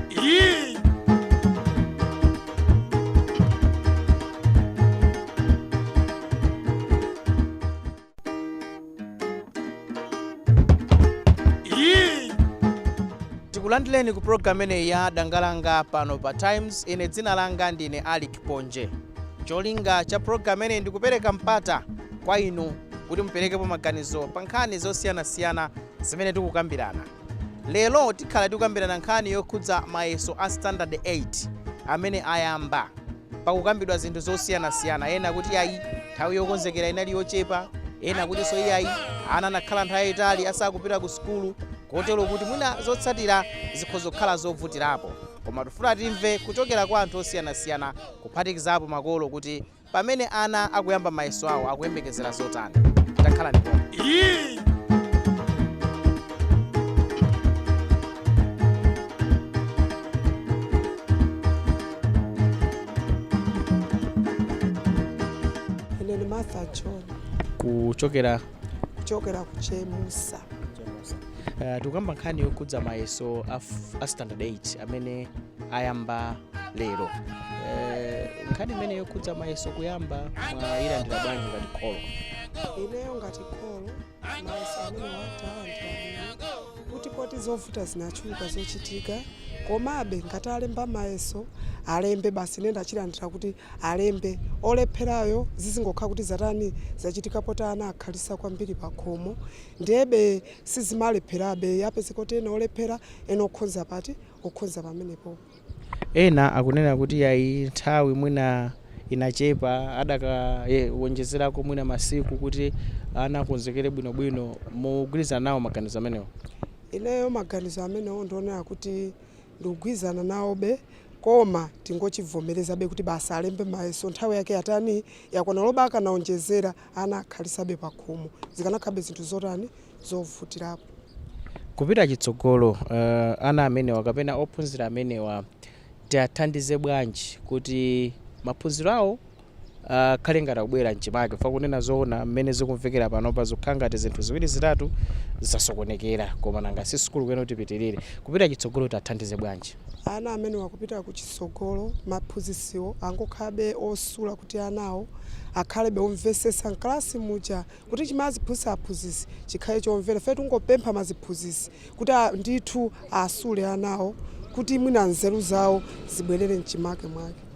Yee! Yee! tikulandireni ku programu imeneyi ya dangalanga pano pa times ine dzina langa ndine alick ponje cholinga cha programu imeneyi ndikupereka mpata kwa inu kuti muperekepo maganizo pa nkhani zosiyanasiyana zimene tikukambirana. Lero tikhala tikukambirana nkhani yokhudza mayeso a standard 8 amene ayamba. Pakukambidwa zinthu zosiyanasiyana, ena akuti ayi nthawi yokonzekera inali yochepa, ena akutinso iyayi ana anakhala nthawi yayitali asakupita ku sukulu kotero kuti mwina zotsatira zikhoza kukhala zovutirapo. Koma tikufuna timve kuchokera kwa anthu osiyanasiyana kuphatikizapo makolo kuti Pamene ana akuyamba mayeso awo, akuyembekezera zotani? Takhalani pomwe. Ine ndi Martha John Kuchokera kuchokera ku Chemusa. uh, tikukamba nkhani yokhudza mayeso a, f- a standard 8 amene ayamba lero eh, nkhani imene yokhudza mayeso kuyamba mwayilandira bwanji ngati kholo ineyo ngati kholo mayeso amenewa talandira kuti poti zovuta zinachuluka zochitika komabe ngati alemba mayeso alembe basi ine ndachilandira kuti alembe olepherayo zizingokhala kuti zatani zachitika poti ana akhalisa kwambiri pakhomo ndiyebe sizimalepherabe apezeka kuti ena olephera ena okhonza pati okhonza pamenepopo. Ena akunena kuti yayi nthawi mwina inachepa adakawonjezerako mwina masiku kuti ana akonzekere bwinobwino. Mukugwirizana nawo maganizo amenewo? Ineyo maganizo amenewo ndinganene kuti ndikugwirizana nawobe koma tingochivomerezabe kuti basi alembe mayeso nthawi yake yatani? Yakwana olo akanawonjezera. ana akhalisabe pakhomo zikanakhalabe zinthu zotani zovutirapo. Kupita chitsogolo ana amenewa kapena ophunzira amenewa tiathandize bwanji kuti maphunziro awo akhale ngati akubwerera mchimake chifukwa kunena zoona mmene zikumvekera panopa zikukhala ngati zinthu ziwiri zitatu zasokonekera koma nanga si sukulu kuyenera ipitirire kupita chitsogolo tiathandize bwanji? Ana amenewa kupita kuchitsogolo maphunzisiwo angokhalabe osula kuti anawo akhalebe omvesesa mkalasi muja kuti chimene aziphunzisa aphunzisi chikhale chomvera ife tikungopempha maziphunzisi kuti ndithu asule anawo kuti mwina nzeru zawo zibwelere mchimake mwake.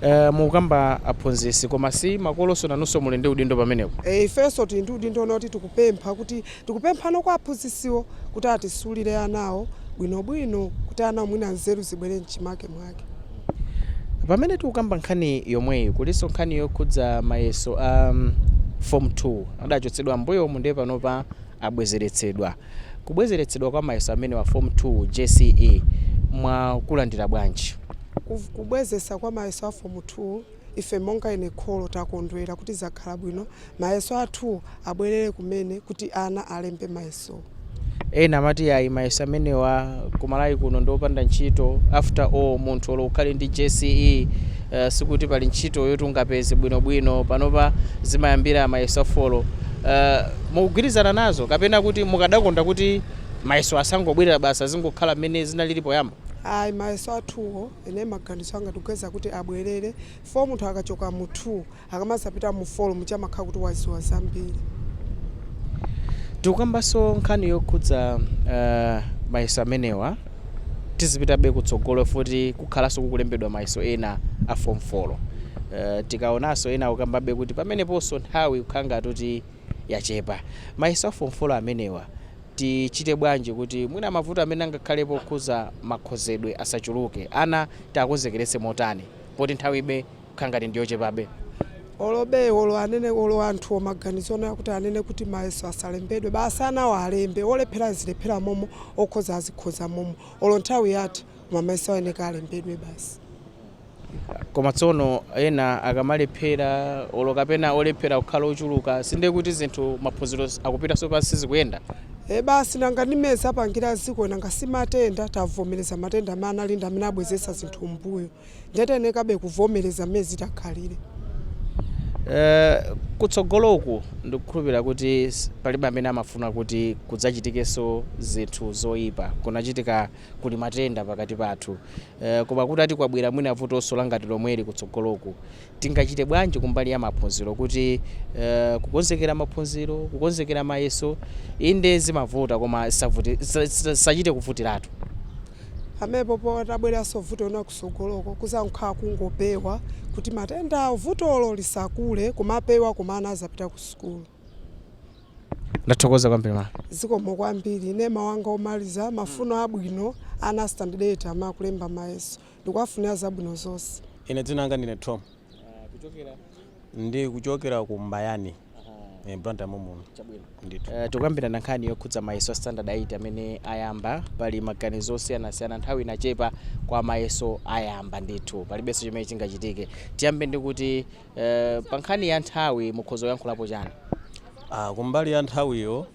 Eh, mukukamba aphunzitsi koma si makolonso nanunso muli ndi udindo pamenepo E, ifenso tili ndi udindo noti tikupempha kuti tikupemphano kwa aphunzitsiwo kuti atisulire anawo bwinobwino kuti ana mwina nzeru zibwere mchimake mwake. pamene tikukamba nkhani yomweyi kulinso nkhani yokhudza mayeso a um, form 2 adachotsedwa mbuyomu ndiye panopa abwezeretsedwa Kubwezeretsedwa kwa mayeso amenewa form 2 jce mwakulandira bwanji? Kubwezesa kwa mayeso a form 2 ife monga ine kholo takondwera kuti zakhala bwino mayeso a 2 abwerere kumene kuti ana alembe mayesowo. Ena amati yayi mayeso amenewa kumalawi kuno ndiopanda ntchito after all munthu olo ukhale ndi jce sikuti pali ntchito yoti ungapeze bwino bwino panopa zimayambira mayeso a folo mukugwirizana nazo kapena kuti mukadakonda kuti mayeso asangobwerera basi azingokhala mmene zinalili poyamba? Ayi mayeso a 2 wo ine maganizo anga ndikuyeza kuti abwelere chifukwa munthu akachoka mu 2 akamazapita mu folomu amakhala kuti waziwa zambiri. Tikukambaso nkhani yokhudza mayeso amenewa tizipitabe kutsogolo futi kukhalaso kukulembedwa mayeso ena a form folo tikaonaso ena akukambabe kuti pameneposo nthawi ikukhala ngati kuti yachepa mayeso a form folo amenewa tichite bwanji kuti mwina mavuto amene angakhalepo okhuza makhozedwe asachuluke ana tiakonzekeretse motani poti nthawibe kukhala ngati ndi yochepabe. Olo be olo anene olo anthuwo maganizo onena kuti anene kuti mayeso asalembedwe basi anawo alembe olephera azilephera momo okhoza azikhoza momo olo nthawi yatha koma mayeso ayeneka alembedwe basi. Koma tsono ena akamalephera olo kapena olephera kukhala ochuluka sindiye kuti zinthu maphunziro akupitanso pansi sizikuyenda? E basi nanga ndi mmene zapangira dziko nanga si matenda tavomereza matenda amene ali ndi amene abwezeretsa zinthu mmbuyo. ndiye tiyenekabe kuvomereza mmene zitakhalire. Eh, kutsogoloku ndikukhulupirira kuti s- palibe amene amafuna kuti kudzachitikenso zinthu zoyipa kunachitika kuli matenda pakati pathu eh, koma kuti ati kwabwera mwina vutonso langati lomweli kutsogoloku Tingachite bwanji kumbali ya maphunziro kuti kukonzekera maphunziro, kukonzekera mayeso inde zimavuta koma zisachite kuvutiratu. Pamene popo patabweranso vuto lina kusogoloko kuzankhala kungopewa kuti matendawo vutolo lisakule kumapewa koma ana azapita ku sukulu. Ndathokoza kwambiri ma. Zikomo kwambiri. Ine mau anga omaliza, mafuno abwino ana a standard 8 amakalemba mayeso. ndikuwafunira zabwino zonse. Ine dzina langa ndine Thom. Kuchokera? Ndikuchokera ku Mbayani. Aha. Blantyre momuno. Chabwino. Ndithu. Uh, tikukambirana nkhani yokhudza mayeso a standard 8 amene ayamba pali maganizo osiyanasiyana nthawi inachepa kwa mayeso ayamba ndithu palibenso chimene chingachitike tiyambe ndi kuti uh, pa nkhani ya nthawi mukhoza kuyankhulapo chani Ah, kumbali ya nthawiyo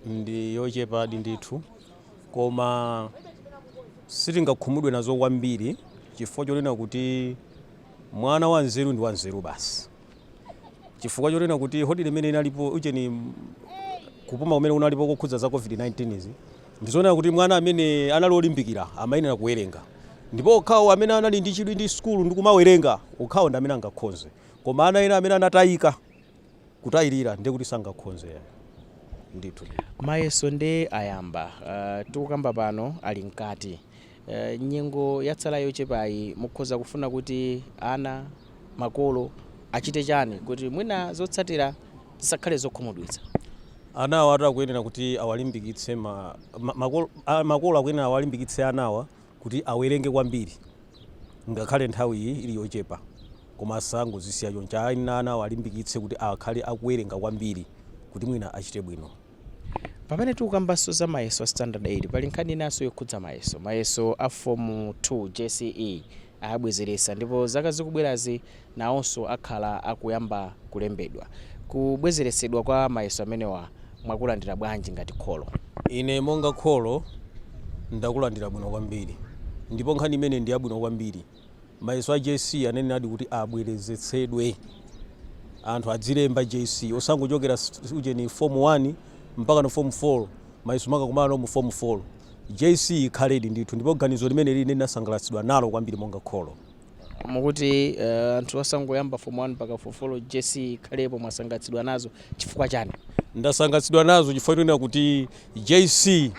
ndi yochepadi ndithu Koma sitingakhumudwe nazo kwambiri chifukwa chonena kuti mwana wanzeru ndi wanzeru basi. Chifukwa chonena kuti holiday imene inalipo ujeni kupuma kumene kunalipo kokhudza za COVID-19 izi, ndi zonena kuti mwana amene anali olimbikira amayenera kuwerenga. Ndipo okhawo amene anali ndi chidwi ndi sukulu ndi kumawerenga, okhawo ndi amene angakhonze. Koma ana ena amene anatayika. kutayilira ndi kuti sangakhonze yayi ndithu ndithu. Mayeso nde ayamba uh, tikukamba pano ali mkati uh, nyengo yatsala yochepayi mukhoza kufuna kuti ana makolo achite chani kuti mwina zotsatira zisakhale zokhumudwitsa Anawa atu akuyenera kuti awalimbikitse ma, ma, makolo, a, makolo akuyenera awalimbikitse anawa kuti awerenge kwambiri ngakhale nthawiyi ili yochepa koma asangozisiya choncho ayi ana awalimbikitse kuti akhale akuwerenga kwambiri kuti mwina achite bwino. Pamene tikukambanso za mayeso a standard 8 pali nkhani inanso yokhudza mayeso. Mayeso a fomu 2, jce, ayabwezeresa ndipo zaka zikubwerazi nawonso akhala akuyamba kulembedwa. Kubwezeretsedwa kwa mayeso amenewa mwakulandira bwanji ngati kholo? Ine monga kholo ndakulandira bwino kwambiri ndipo nkhani imeneyi ndi yabwino kwambiri. Mayeso a JC anayeneradi kuti abwerezetsedwe. Anthu adzilemba JC osangochokera ujeni Form 1 mpakana Form 4, mayeso mukakumana nawo mu Form 4. JC ikhaledi ndithu ndipo ganizo limeneli ine ndinasangalatsidwa nalo kwambiri monga kholo. Mukuti eh, anthu osangoyamba form 1 mpaka form 4 JC ikhalepo mwasangalatsidwa nazo chifukwa chani? ndasangalatsidwa nazo chifukwa chonena kuti JC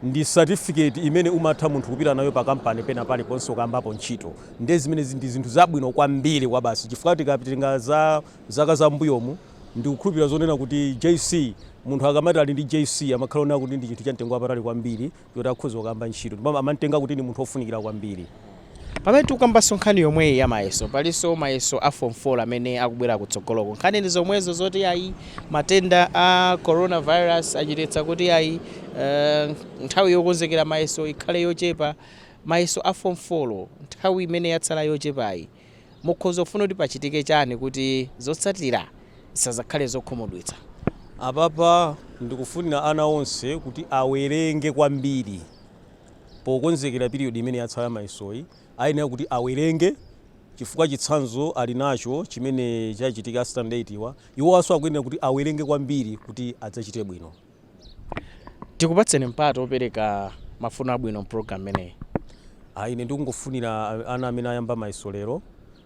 ndi certificate imene umatha munthu kupita nayo pa kampani pena paliponse ukayambapo ntchito ndiye zimene zi- ndi zinthu zabwino kwambiri kwa basi chifukwa tikapita za zaka za mbuyomu ndikukhulupirira zonena kuti JC munthu akamati ali ndi JC amakhala onena kuti ndi chinthu cha mtengo wapatali kwambiri oti akhoza kukayamba ntchito ndipo amam'tenga kuti ndi munthu wofunikira kwambiri. Pamene tikukambanso nkhani yomweyi ya mayeso, palinso mayeso a Form 4 amene akubwera kutsogoloku. Nkhani ndi zomwezo zoti ayi matenda a coronavirus achititsa kuti ayi nthawi yokonzekera mayeso ikhale yochepa. Mayeso a Form 4 nthawi imene yatsala yochepayi, Mukhoza kufuna kuti pachitike chani kuti zotsatira zisazakhale zokhumudwitsa? Apapa ndikufunira ana onse kuti awerenge kwambiri pokonzekera period imene yatsala ya mayesoyi. Ayenera kuti awerenge chifukwa chitsanzo ali nacho chimene chachitika a standard 8 wa. Iwowanso akuyenera kuti awerenge kwambiri kuti adzachite bwino. tikupatseni mpata opereka mafuno abwino mpulogalamu imeneyi Ah, ine ndikungofunira a- ana amene ayamba mayeso lero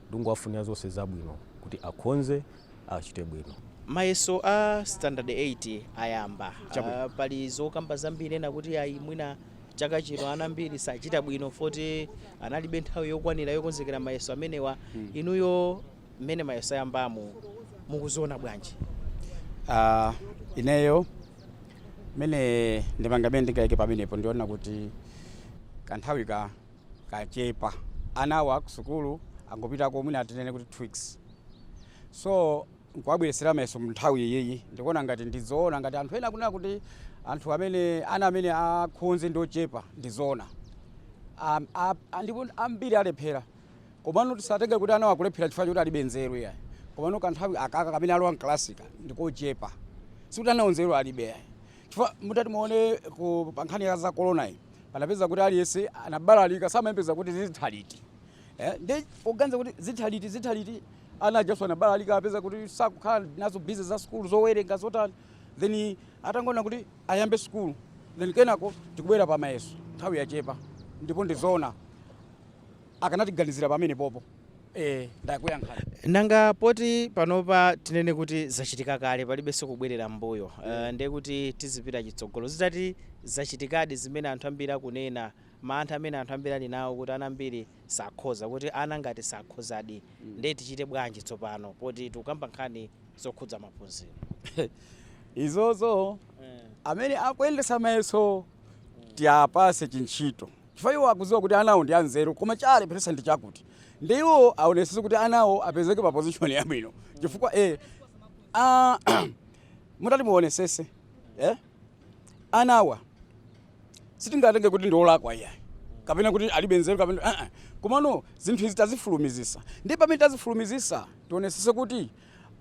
ndikungowafunira zonse zabwino kuti akhonze achite bwino mayeso a standard 8 ayamba Chabwino. Ah, pali zokamba zambiri ena kuti ayi mwina chaka chino ana ambiri sachita bwino poti analibe nthawi yokwanira yokonzekera mayeso amenewa inuyo mmene mayeso ayambamu mukuziona bwanji? Ah, ineyo mmene ndimanga mmene ndingaike pamenepo ndiona kuti kanthawi kachepa anawa kusukulu angopitako mwina atinene kuti two weeks so nkuwabweresera mayeso mnthawi iyiyi ndikuona ngati ndizoona ngati anthu ena akunena kuti anthu ame ana amene akhonze ndi ochepa ndizoona Am- a- a- ndipo ambiri alephera Komano tisatenge kuti anawo akulephera chifukwa choti alibe nzeru yayi. Komano kanthawi akaka kamene alowa mkalasika ndikochepa. Sikuti anawo nzeru alibe yayi. Chifukwa mutati muone ku pankhani ya za corona iyi, panapeza kuti aliyense anabalalika samayembekeza kuti zitha liti. Eh, ndi poganiza kuti zitha liti zitha liti ana ajaso anabalalika apeza kuti sakukhala nazo busy za sukulu zowerenga zotani. Then atangoona kuti ayambe sukulu. Then kenako tikubwera pa mayeso nthawi yachepa ndipo ndizoona. akanatiganizira pamenepopo ee ndakuyankhani. Nanga poti panopa tinene kuti zachitika kale palibenso kubwerera m'mbuyo uh, ndiye kuti tizipita chitsogolo zitati zachitikadi zimene anthu ambiri akunena mantha amene anthu ambiri ali nawo kuti ana ambiri sakhoza kuti ana ngati sakhozadi ndiye tichite bwanji tsopano poti tikukamba nkhani zokhudza maphunziro izozo amene akuyendesa mayeso tiapase chintchito Chifukwa iwo akudziwa kuti anawo ndi anzeru koma chawalepheresa ndi chakuti nde iwo aonesese kuti anawo apezeke pa position yabwino chifukwa eh, ah, mutati muonesese eh, anawa sitingatenge kuti ndi olakwa iyayi kapena kuti alibe nzeru kapena ah, ah. komano zinthu izi tazifulumizisa ndi pamene tazifulumizisa tionesese kuti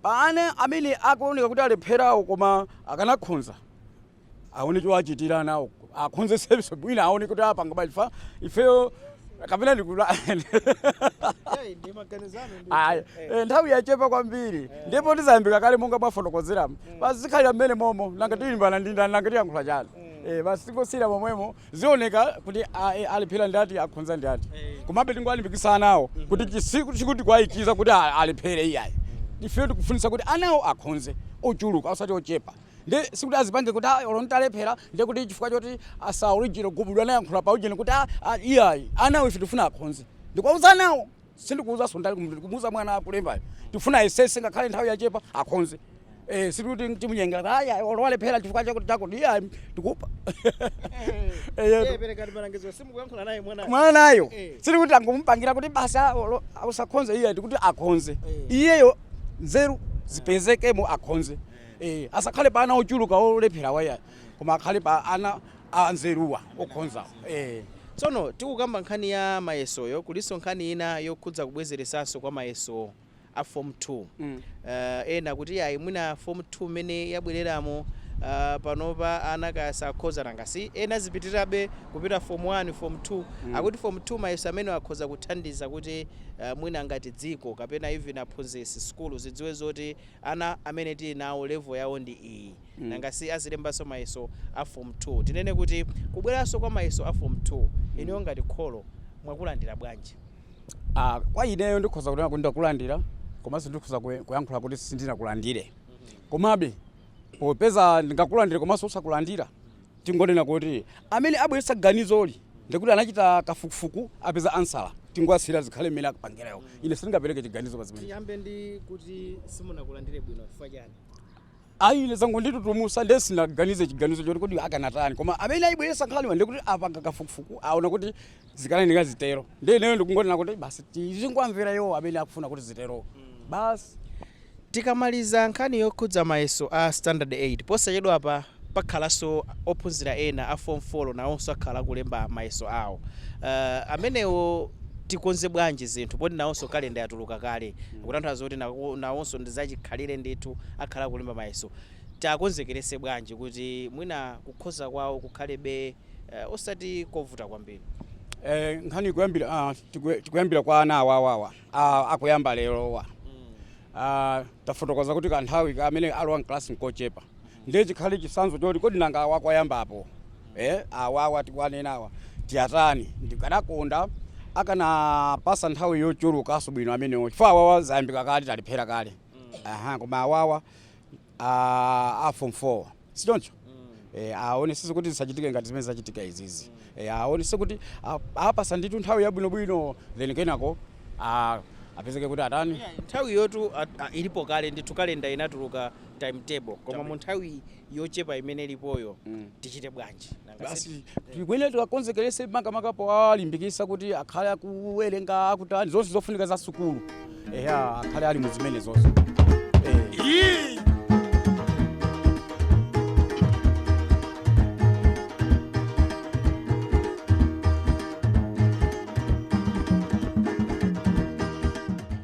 pa ana amene akuoneka kuti alepherawo koma akanakhonza aone chowachitira anawo akhonzetsenso bwina aone kuti apanga bwanji chifukwa ifeyo kapena ndikula Hey, ndi maganizo anu ndi- Ayi, Eh, eh, nthawi yachepa kwambiri ndipo ndizayambika kale monga mwafotokozeramo basi zikhalira mmene momo nanga tilimbana ndi ndani nanga tiyankhula chani Eh, basi tingosiyira momwemo zioneka kuti a- eh, alephera ndi ati akhonza ndi ati komabe tingolimbikitsa anawo kuti chisiku chikuti kwayikiza kuti a- alephere iyayi ife tikufunitsa kuti anawo akhonze ochuluka osati ochepa Nde sikuti azipange kuti ayi olo nditalephera nde kuti chifukwa choti asa original gubudu anayankhula pa ujeni kuti ayi ayi iyayi anawo ife tikufuna akhonze ndikuwauza anawo sindikuuzanso ndale kumutu ndikumuuza mwana akulembayo tikufuna ayesetse ngakhale nthawi yachepa akhonze eh sikuti timunyengerera kuti ayi ayi olo walephera chifukwa chakuti chakuti iyayi tikupa eyetu perekani malangizo simukuyankhula naye mwanayo mwanayo Eh. sili kuti angomupangira kuti basi ah, olo- usakhonze iye tikuti akhonze Eh. iyeyo nzeru zipezekemo akhonze Eh, asakhale pa ana ochuluka olepherawa iyayi koma akhale pa ana anzeruwa okhonzawa eh. tsono tikukamba nkhani ya mayesoyo kulinso nkhani ina yokhudza kubwezeretsanso kwa mayeso a form 2 Mm. uh, ena kuti ayi mwina form 2 mmene yabwereramo uh, panopa ana kaya sakhoza nanga si ena azipitirirabe kupita form 1 form 2 mm. akuti form 2 mayeso amenewa akhoza kuthandiza kuti uh, mwina ngati dziko kapena even aphunzitsi sukulu zidziwe zoti Ana amene tili nawo level yawo ndi iyi nanga si azilembanso mayeso a form 2. Tinene kuti kubweranso kwa mayeso a form 2 inuyo ngati kholo mwakulandira bwanji? A, Kwa ineyo ndikhoza kunena kuti ndakulandira komanso ndikhoza kuyankhula kuti sindinakulandire. Komabe popeza ndingakulandire komanso osakulandira Tingonena kuti amene abweretsa ganizoli ndekuti anachita kafukufuku apeza ansala tingowasiyira zikhale mmene akupangira iwo. Ine sindingapereke chiganizo pa zimenezi. Tiyambe ndi kuti simunakulandire bwino chifukwa chani? Ayi ine zangonditutumusa ndiye sindinaganize chiganizo choti kodi akanatani koma amene ayibweretsa nkhaniyiwa ndekuti apanga kafukufuku aona kuti zikuyeneka zitero nde ineyo ndikungonena kuti basi tizingowamvera iwo amene akufuna kuti ziterowo basi tikamaliza nkhani yokhudza mayeso a standard 8 posachedwapa pakhalanso ophunzira ena a form 4 nawonso akhala akulemba mayeso awo uh, amenewo tikonza bwanji zinthu poti nawonso kalenda yatuluka kale kutanthauza kuti nawo- nawonso ndi zachikhalire ndithu akhala akulemba mayeso tiwakonzekeretse bwanji kuti mwina kukhoza kwawo kukhalebe eh, osati kovuta kwambiri Eh, nkhani ikuyambira ah, tikue- tikuyambira kwa ana awawawa ah, akuyamba lerowa ah, tafotokoza kuti kanthawi ka amene alowa mklasi nkochepa ndiye chikhale chisanzo choti kodi nanga awa kwayambapo eh, awawa tikuwanenawa tiyatani ndikadakonda akanawapatsa nthawi yochulukanso bwino amenewo chifukwa awawa zayambika kale talephera kale aha koma awawa a a form 4 sichoncho e, aonesese kuti zisachitike ngati zimene zachitika izizi e, aonese kuti a- apasa ndithu nthawi yabwinobwino then kenako a- apezeke kuti atani nthawi yoti a- a- ilipo kale ndithu kalenda inatuluka timetable koma mu nthawi yochepa imene ilipoyo Mm. tichite bwanji basi tikuyenera tiwakonzekerese makamaka powalimbikisa kuti akhale akuwerenga akutani zonse zofunika za sukulu eya akhale ali muzimene zonse Eh.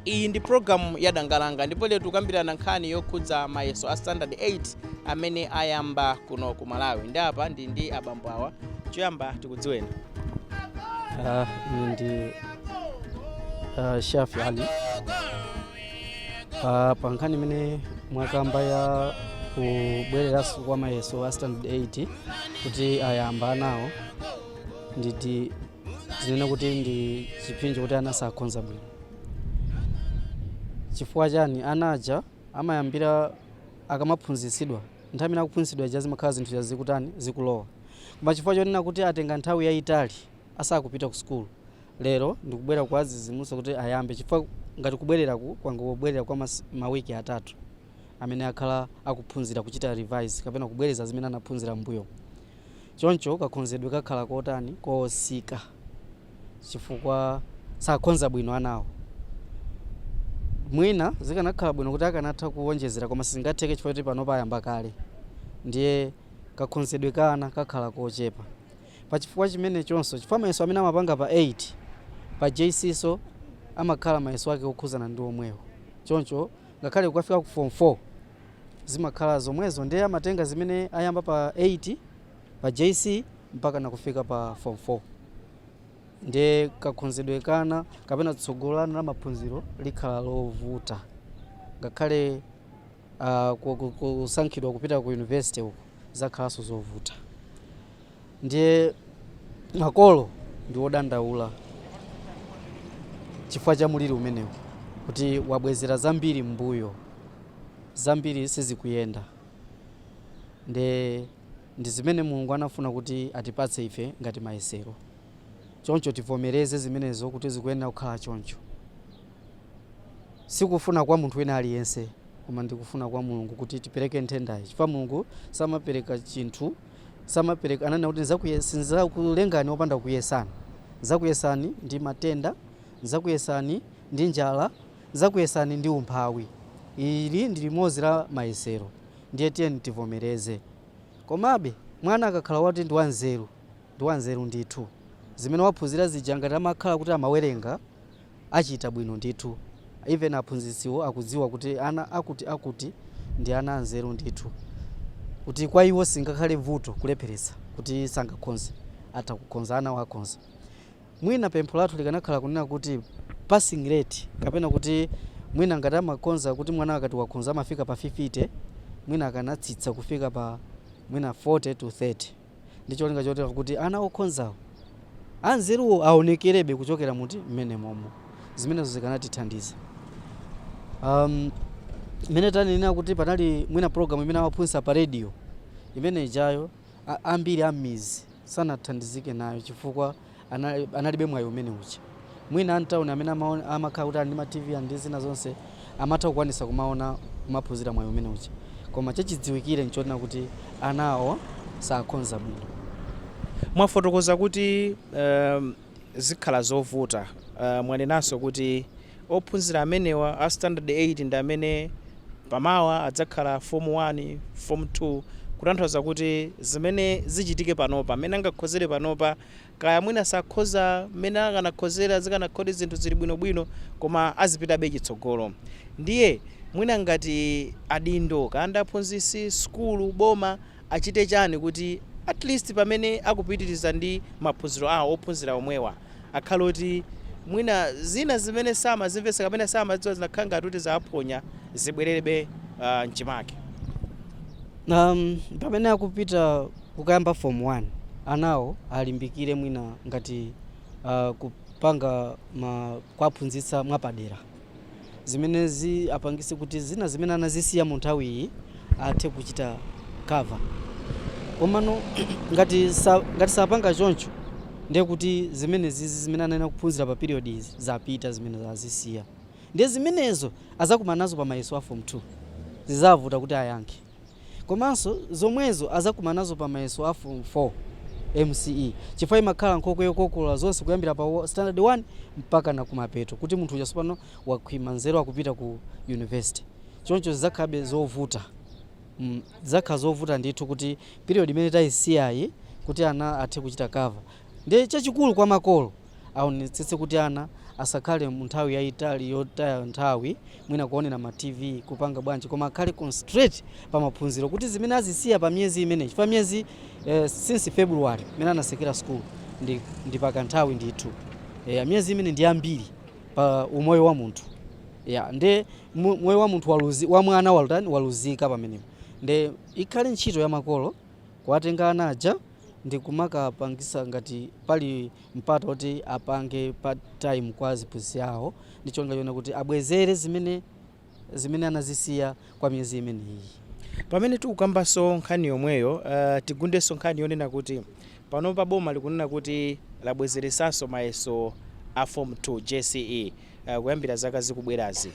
iyi ndi programu ya dangalanga ndipo lero tikukambirana nkhani yokhudza mayeso a standard 8 amene ayamba kuno ku malawi ndi apa ndi ndi abambo awa choyamba tikudziweni Ah, ine ndi ah, shafi ali Ah, pa nkhani imene mwakamba ya kubwereranso kwa mayeso a standard 8 kuti ayamba anawo ndithu tinene kuti ndi chipsinjo kuti ana sakhonza bwino chifukwa chani ana aja amayambira akamaphunzitsidwa, nthawi imene akuphunzitsidwa ija zimakhala zinthu zija zikutani, zikulowa. Koma chifukwa chonena kuti atenga nthawi yaitali asakupita ku sukulu, lero ndikubwera kuwadzidzimutsa kuti ayambe chifukwa ngati kubwereraku kwangobwerera kwa mas, mawiki atatu amene akhala akuphunzira kuchita revise kapena kubwereza zimene anaphunzira m'mbuyomu. Choncho kakhonzedwe kakhala kotani, kotsika. chifukwa sakhonza bwino anawo. Mwina zikanakhala bwino kuti akanatha kuwonjezera koma sizingatheke chifukwa choti panopa ayamba kale ndiye kakhonzedwe ka ana kakhala kochepa. Pa chifukwa chimenechonso, chifukwa mayeso amene amapanga pa 8, pa JC nso amakhala mayeso ake okhuzana ndi omwewo choncho ngakhale kukafika ku form 4 zimakhala zomwezo ndiye amatenga zimene ayamba pa 8, pa JC mpaka nakufika pa form 4 nde kakhonzedwe ka ana kapena tsogolo la ana la maphunziro likhala lovuta ngakhale uh, kusankhidwa kupita ku university uko zikhalanso zovuta ndiye makolo ndi wodandaula chifukwa cha muliri umenewu kuti wabwezera zambiri mbuyo zambiri sizikuyenda nde Ndi zimene Mulungu anafuna kuti atipatse ife ngati mayesero. Choncho tivomereze zimenezo kuti zikuyenera kukhala choncho. Si kufuna kwa munthu wina aliyense koma ndi kufuna kwa Mulungu kuti tipereke nthendayi chifukwa Mulungu samapereka chinthu, samapereka, ananena kuti sindidzakulengani opanda kukuyesani. Ndidzakuyesani ndi matenda, ndidzakuyesani ndi njala, ndidzakuyesani ndi umphawi. Ili ndi limodzi la mayesero. ndiye tiyeni tivomereze. Komabe, mwana akakhala woti ndi wanzeru, ndi wanzeru ndithu. Zimene waphunzira zija ngati amakhala kuti amawerenga, achita bwino ndithu. Even aphunzitsiwo akudziwa kuti ana akuti akuti ndi ana anzeru ndithu, kuti kwa iwo singakhale vuto kulepheretsa kuti sangakhonze, atha kukhonza, anawo akhonza. Mwina pempho lathu likanakhala kunena kuti passing rate kapena kuti mwina ngati amakhonza kuti mwana akati wakhonza amafika pa 50 mwina akanatsitsa kufika pa mwina 40 to 30 ndi cholinga chotera kuti ana okhonzawo, anzeruwo aonekerebe kuchokera muti? M'menemomo. Zimenezo zikanatithandiza. Am, mmene tanenera kuti panali mwina program imene amaphunzitsa pa radio imene ijayo. a ambiri a mmizi sanathandizike nayo chifukwa analibe mwayi umene uja. Mwina a mtauni amene amakhala kuti ali ndi ma TV ali ndi zina zonse amatha kukwanitsa kumaona kumaphunzira mwayi umene uja. Koma chachidziwikire n'chonena kuti anawo sakhonza bwino. Mwafotokoza kuti. zikhala zovuta. Mwanenanso kuti ophunzira amenewa a Standard 8 ndi amene pa mawa adzakhala Form 1, Form 2 kutanthauza kuti zimene zichitike panopa, mmene angakhozere panopa kaya mwina sakhoza mmene akanakhozera zikanakhala kuti zinthu zili bwinobwino koma azipitabe chitsogolo. Ndiye mwina ngati adindo, kaya ndi aphunzitsi, sukulu, boma. achite chani kuti at least pamene akupitiliza ndi maphunziro awo ophunzira omwewa akhale oti mwina zina zimene samazimvetsa kapena samadziwa zinakhala ngati kuti zawaphonya zibwererebe mchimake. Umm pamene akupita kukayamba form 1 anawo alimbikire mwina ngati kupanga kuwaphunzitsa mwapadera. zimenezi apangise kuti zina zimene anazisiya mu nthawi iyi athe kuchita cover komano ngati sapanga choncho ndiye kuti zimene zizi zimene anayenera kuphunzira pa period izi zapita zimene azisiya ndiye zimenezo azakumana nazo pa mayeso a form 2 zizavuta kuti ayankhe Komanso zomwezo azakumanazo pa mayeso a form 4, msce, chifukwa imakhala nkhokwe yokokolola zonse kuyambira pa standard 1 mpakana kumapeto kuti munthu uja sopano wakhwima nzeru akupita ku university. Choncho zizakhalabe zovuta mm zizakhala zovuta ndithu kuti period imene taisiyayi kuti ana athe kuchita cover. Ndiye chachikulu kwa makolo. aonetsetse kuti ana asakhale mu nthawi yayitali yotaya nthawi mwina kuonera ma tv kupanga bwanji koma akhale concentrate pa maphunziro kuti zimene azisiya pa miyezi imene, chifukwa miyezi eh, since february imene anatsekera school ndi, ndi pa kanthawi ndithu eh, miyezi imene ndi yambiri pa umoyo wa munthu ya nde mu- moyo wa munthu waluzi, wa mwana walutani waluzika pamenepo nde ikhale ntchito ya makolo kuwatenga ana aja ndi kumakapangisa ngati pali mpata oti apange part time kwa aziphunzitsi awo ndi cholinga chonena kuti abwezere zimene zimene anazisiya kwa miyezi imeneyi. Pamene tikukambanso nkhani yomweyo, uh, tigundenso nkhani yonena kuti panopa boma likunena kuti labwezeresanso mayeso a form 2 JCE uh, kuyambira zaka zikubwerazi.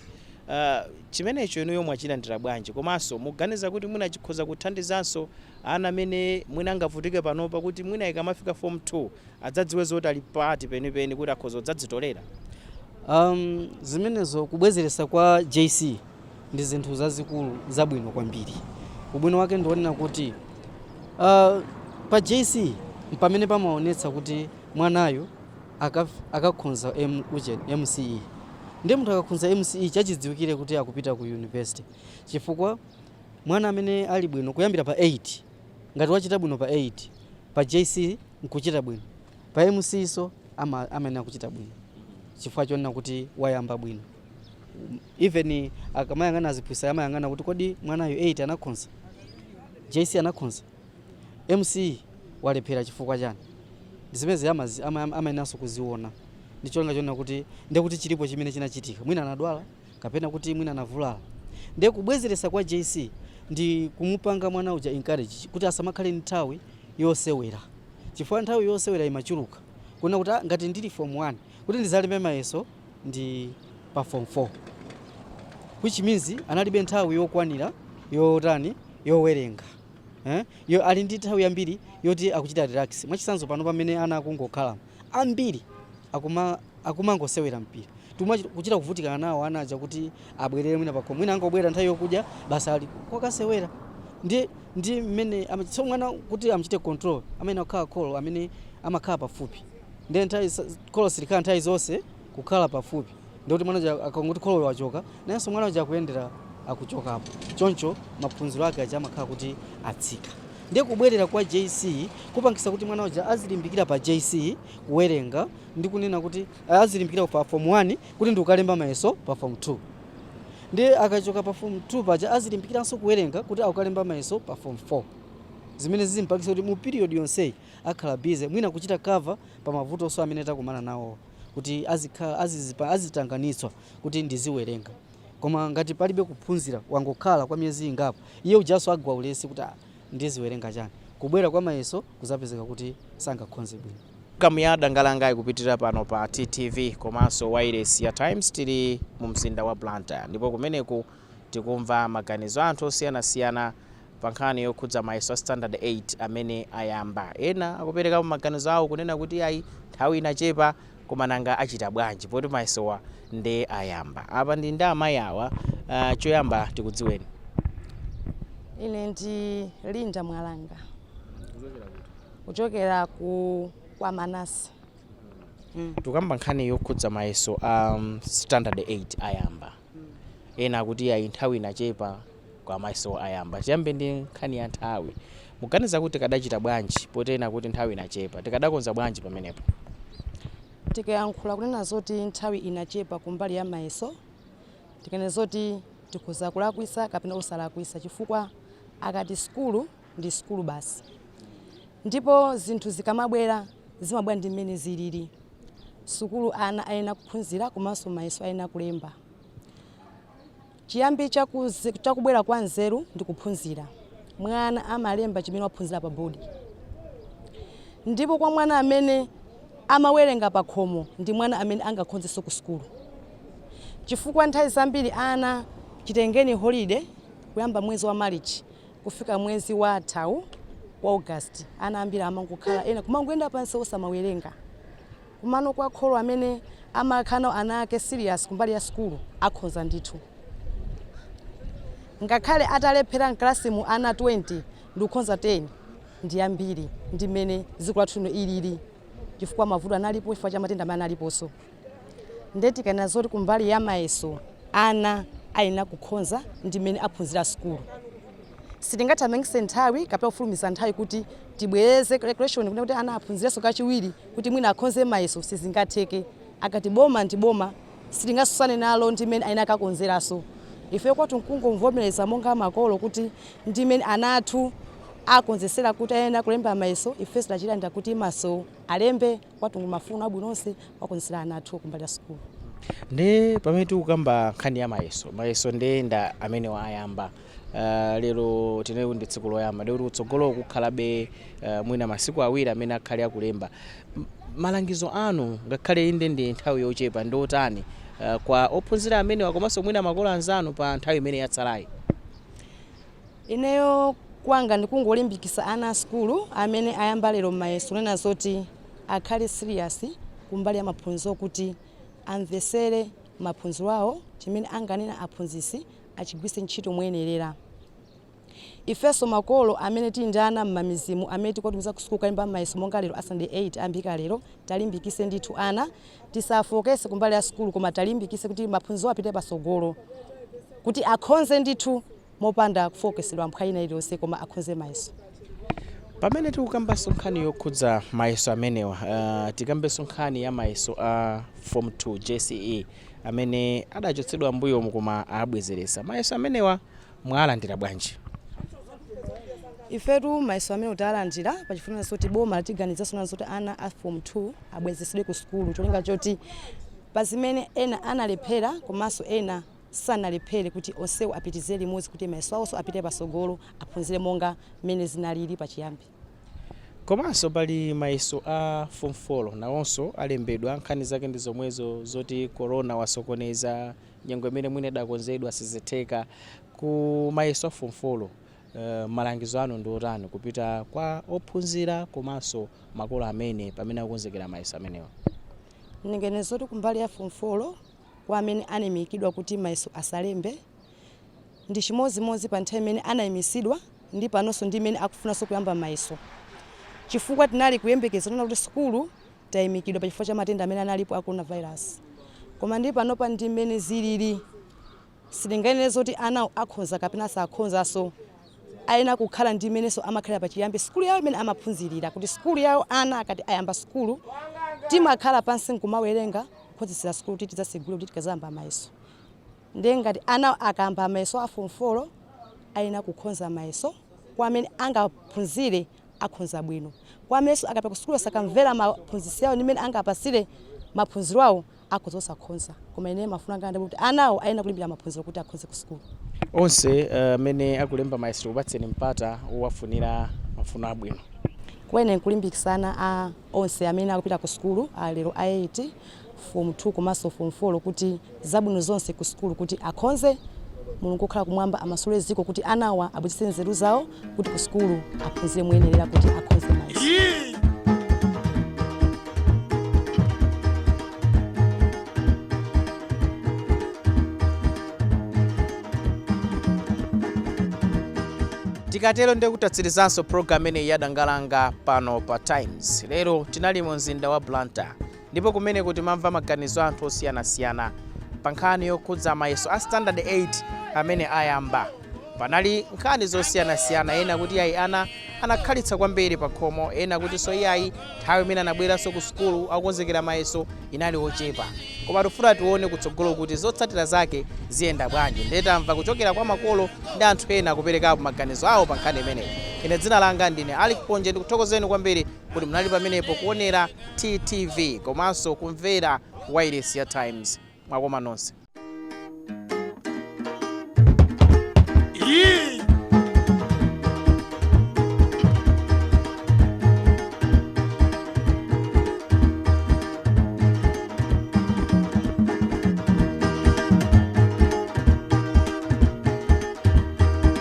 Uh, chimenecho inuyo mwachilandira bwanji komanso muganiza kuti mwina chikhoza kuthandizanso ana amene mwina angavutike panopa kuti mwina ikamafika form 2 adzadziwe zoti ali pati penipeni kuti akhoza kudzadzitolera? Am, zimenezo kubwezeretsa kwa JC ndi zinthu zazikuluzikulu zabwino kwambiri. Ubwino wake ndi wonena kuti ah, pa JC mpamene pamaonetsa kuti mwanayo akaf- akakhonza M- uje- MCE. Ndiye munthu akakhonza MCE chachidziwikire kuti akupita ku university chifukwa Mwana amene ali bwino kuyambira pa 8, ngati wachita bwino pa 8 pa JC n'kuchita bwino, pa MCE'nso amayenera kuchita bwino chifukwa chonena kuti wayamba bwino. Even akamayang'ana aziphunzitsi amayang'ana kuti kodi mwanayu 8 anakhonza? JC anakhonza? MCE walephera chifukwa chani? Ndi zimenezi amayeneranso kuziona ndi cholinga chonena kuti ndiye kuti chilipo chimene chinachitika, mwina anadwala. kapena kuti mwina anavulala nde kubwezeresa kwa JC ndi kumupanga mwana uja encourage kuti asamakhale ndi nthawi yosewera chifukwa nthawi yosewera imachuluka kunena kuti ah ngati ndili form 1 kuti ndizalembe mayeso ndi pa form 4 which means analibe nthawi yokwanira yotani yowerenga eh yo ali ndi nthawi yambiri yoti akuchita relax mwachisanzo pano pamene ana akungokhala ambiri akuma akumangosewera mpira tuma kuchita kuvutikana nawo ana aja kuti abwerere mwina pakhomo mwina angobwera nthawi yokudya basi ali kokasewera ndi ndi mmene ama- so mwana kuti amchite control amene akhala kholo amene amakhala pafupi ndiye nthawi sa- kholo silikhala nthawi zonse kukhala pafupi ndikuti mwana uja akangoti kholoyo wachoka nayenso mwana uja akuyendera akuchokapo choncho maphunziro ake aja amakhala kuti atsika ndiye kubwerera kwa JC kupangisa kuti mwana uja azilimbikira pa JC kuwerenga ndi kunena kuti eh, azilimbikira pa form 1 kuti ndikalembe mayeso pa form 2 ndiye akachoka pa form 2 paja azilimbikiranso kuwerenga kuti akalembe mayeso pa form 4 zimene zizimpangisa kuti mu period yonseyi akhala busy mwina kuchita cover pa mavutonso amene takumana nawowa kuti azikhala azitanganitsidwa kuti ndiziwerenga koma ngati palibe kuphunzira wangokhala kwa miyezi ingapo iye ujanso agwa ulesi kuti ah ndiziwerenga chani kubwera kwa mayeso kuzapezeka kuti sangakhonze bwino. Program ya Dangalanga ikupitilira pano pa TTV komanso wailesi ya Times tili mu mzinda wa Blantyre ndipo kumeneku tikumva maganizo a anthu osiyanasiyana pa nkhani yokhudza mayeso a standard 8 amene ayamba. Ena akuperekapo maganizo awo kunena kuti iyayi nthawi inachepa koma nanga achita bwanji poti mayesowa nde ayamba. Apa ndili ndi amayi awa, ah, choyamba tikudziweni. Ine ndi Linda Mwalanga kuchokera ku kwa Manase. Mm. Tikukamba nkhani yokhudza mayeso a um, standard 8 ayamba. Ena akuti ayi nthawi inachepa koma mayeso ayamba. Tiyambe ndi nkhani ya nthawi. Mukuganiza kuti tikadachita bwanji poti ena akuti nthawi inachepa? Tikadakonza bwanji pamenepo? Tikayankhula kunena zoti nthawi inachepa kumbali ya mayeso, tikanena zoti tikhoza kulakwitsa kapena osalakwitsa chifukwa akati sukulu. ndi sukulu basi ndipo zinthu zikamabwera zimabwera ndi mmene zilili sukulu ana ayenera kuphunzira komanso mayeso ayenera kulemba chiyambi chakuze- chakubwera kwa nzeru ndi kuphunzira mwana amalemba chimene waphunzira pa bodi ndipo kwa mwana amene amawerenga pa khomo ndi mwana amene angakhonzenso ku sukulu chifukwa nthawi zambiri ana chitengeni holide kuyamba mwezi wa marichi Kufika mwezi wathawu wa August ana ambiri amangokhala ena kumangoyenda pansi osamawerenga. Komano kwa kholo amene amakhala nawo ana ake serious kumbali ya sukulu akhonza ndithu. Ngakhale atalephera mkalasimu ana 20 ndikukhonza 10 ndi ambiri ndi mmene dziko lathu lino lilili chifukwa mavuto analipo chifukwa cha matenda amene analiponso. nde tikanena zoti kumbali ya mayeso ana ayenera kukhonza ndi mmene aphunzirira sukulu sitingathamangise nthawi kapena kufulumiza nthawi kuti tibwereze calculation kuti ana aphunzirenso kachiwiri kuti mwina akhonze mayeso sizingatheke akati boma ndi boma sitingatsutsane nalo ndi mmene ayenera kakonzeranso ife kwathu nkungomvomereza monga makolo kuti ndi mmene ana athu akonzekera kuti ayenera kulemba mayeso ife sitachitanda kuti mayeso alembe kwathu n'kuwafunira zabwino zonse kuwakonzera ana athu kumbali ya sukulu. Nde pamene tikukamba nkhani ya mayeso, mayeso nde ndi amenewa ayamba uh, lero tinali kuti ndi tsiku loyamba ndikuti kutsogolo kukhalabe uh, mwina masiku awiri amene akhale akulemba M- malangizo anu ngakhale inde ndi nthawi yochepa ndi otani uh, kwa ophunzira amenewa komanso mwina makolo anzanu pa nthawi imene yatsalayi Ineyo kwanga ndikungolimbikisa ana a sukulu amene ayamba lero mayeso kunena zoti akhale serious kumbali ya maphunziro kuti amvesere maphunziro awo chimene anganena aphunzitsi achigwiritse ntchito moyenerera. Ifenso makolo amene tili ndi ana mmamidzimu amene tikuwatumiza ku sukulu kukalemba mayeso monga lero a standard 8 ayambika lero talimbikise ndithu ana. tisafowokese kumbali ya sukulu koma talimbikise kuti maphunziro apite pasogolo kuti akhonze ndithu mopanda kufowokesedwa nkhani ina iliyonse koma akhonze mayeso. Pamene tikukambanso nkhani yokhudza mayeso amenewa, uh, tikambenso nkhani ya mayeso a uh, form 2 JCE amene adachotsedwa mbuyomu koma abwezeretsa mayeso amenewa mwalandira bwanji? ifetu mayeso amenewa tawalandira pachifukwa zoti boma latiganiziranso zoti ana a form 2 abwezesedwe ku sukulu cholinga choti pa zimene ena analephera komanso ena sanalephere kuti onsewo apitizire limodzi kuti mayeso awonso apite patsogolo aphunzire monga mmene zinalili pachiyambi komanso pali mayeso a form 4 nawonso alembedwa nkhani zake ndi zomwezo zoti corona wasokoneza nyengo imene mwina idakonzedwa sizitheka ku mayeso a form 4 yo eh, malangizo anu ndi otani kupita kwa ophunzira komanso makolo amene pamene akukonzekera mayeso amenewa ndinganene zoti kumbali ya form 4 yo kwa amene anayimikidwa kuti mayeso asalembe ndi chimodzimodzi pa nthawi imene anayimitsidwa ndi panonso ndi mmene akufunanso kuyamba mayeso chifukwa tinali kuyembekezera kuti sukulu taimikidwa pa chifukwa cha matenda amene analipo a coronavirus. Koma ndiye panopa ndi mmene zilili sitinganene zoti anawo akhonza kapena sakhonzanso. Ayenera kukhala ndi mmenenso amakhalira pachiyambi sukulu yawo imene amaphunzirira kuti sukulu yawo ana akati ayamba sukulu timakhala pansi n'kumawerenga kukonzekera sukulu kuti tidzatsegule kuti tidzayamba mayeso. Ndiye ngati anawo akayamba mayeso a fomu folo ayenera kukhonza mayeso kwa amene angaphunzire akhonza bwino. Kwa amenenso akapita ku sukulu sakamvera maphunzitsi awo ndi mmene angawapatsire maphunziro awo, akhoza osakhonza. Koma ineyo mafuno anga ndi akuti anawo ayenera kulimbikira maphunziro kuti akhonze ku sukulu. Onse amene akulemba mayeso ndikupatseni mpata wowafunira mafuno abwino. Kwa ine nkulimbikitsa ana a onse amene akupita ku sukulu a lero a 8 form 2 komanso form 4 kuti zabwino zonse ku sukulu kuti akhonze Mulungu okhala kumwamba amasule dziko kuti anawa abwezetse nzeru zawo kuti ku sukulu aphunzire moyenerera kuti akhonze mayeso. tikatero ndiye kuti tatsirizanso program imeneyi ya Dangalanga pano pa times lero tinali mu mzinda wa blantyre Ndipo kumeneku timamva maganizo a anthu osiyanasiyana pa nkhani yokhudza mayeso a standard 8 amene ayamba. Panali nkhani zosiyanasiyana, ena kuti iyayi ana anakhalitsa kwambiri pakhomo, ena kutinso iyayi nthawi imene anabweranso ku sukulu akukonzekera mayeso inali yochepa. Koma tikufuna tione kutsogolo kuti zotsatira zake ziyenda bwanji ndiye tamva kuchokera kwa makolo ndi anthu ena kuperekapo maganizo awo pa nkhani imeneyi. Ine dzina langa ndine Alick Ponje ndikuthokozeni kwambiri. Kuti munali pamenepo kuonera TTV komanso kumvera wailesi ya Times. Mwakoma nonse.